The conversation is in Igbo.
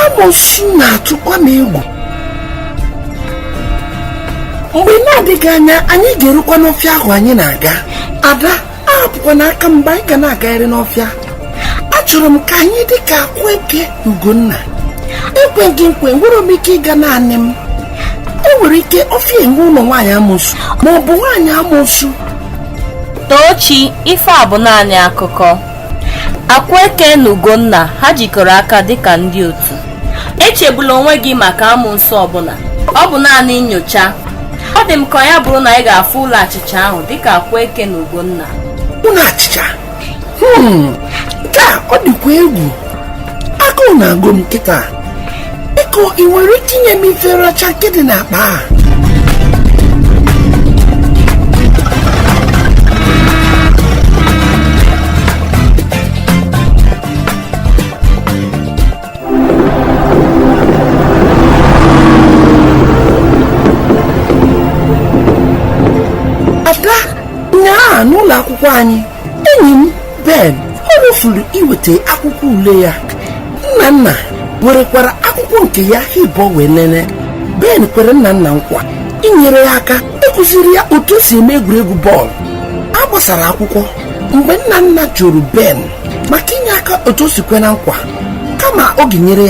amosu na-atụkwa m egwu mgbe na-adịghị anya anyị ga-erukwa n'ọfịa ahụ anyị na-aga ada ahapụkwana aka m mgbe anyị ga na-agagharị n'ọfịa achọrọ m ka anyị dị ka Akweke ugonna ekweghị nkwe nwere m ike ịga naanị m enwere ike ọfịa enwe ụlọ nwaanyị amosu ma ọ bụ nwaanyị amosu Tochi, ife a bụ naanị akụkọ. Akweke na Ugonna ha jikọrọ aka dịka ndị otu? Echegbula onwe gị maka amosu ọbụla, ọ bụ naanị nyocha. Ọ dị m ka ya bụrụ na anyị ga-afụ ụlọ achịcha ahụ dịka Akweke na Ugonna. Ụlọ achịcha? Hmm, nke a ọ dịkwa egwu. Agụụ na-agụ m kịta. biko ị nwere ike inye m ife nracha nke dị n'akpa a ada nyaa n'ụlọ akwụkwọ anyị enyi m ben o rofuru iweta akwụkwọ ule ya Nnanna werekwara akwụkwọ nke ya ha ịbụọ wee nene ben kwere Nnanna nkwa inyere ya aka ịkụziri ya otu o si eme egwuregwu bọọlụ a gbasara akwụkwọ mgbe Nnanna jụrụ ben maka inye aka otu o si kwe na nkwa kama ọ ga-enyere ya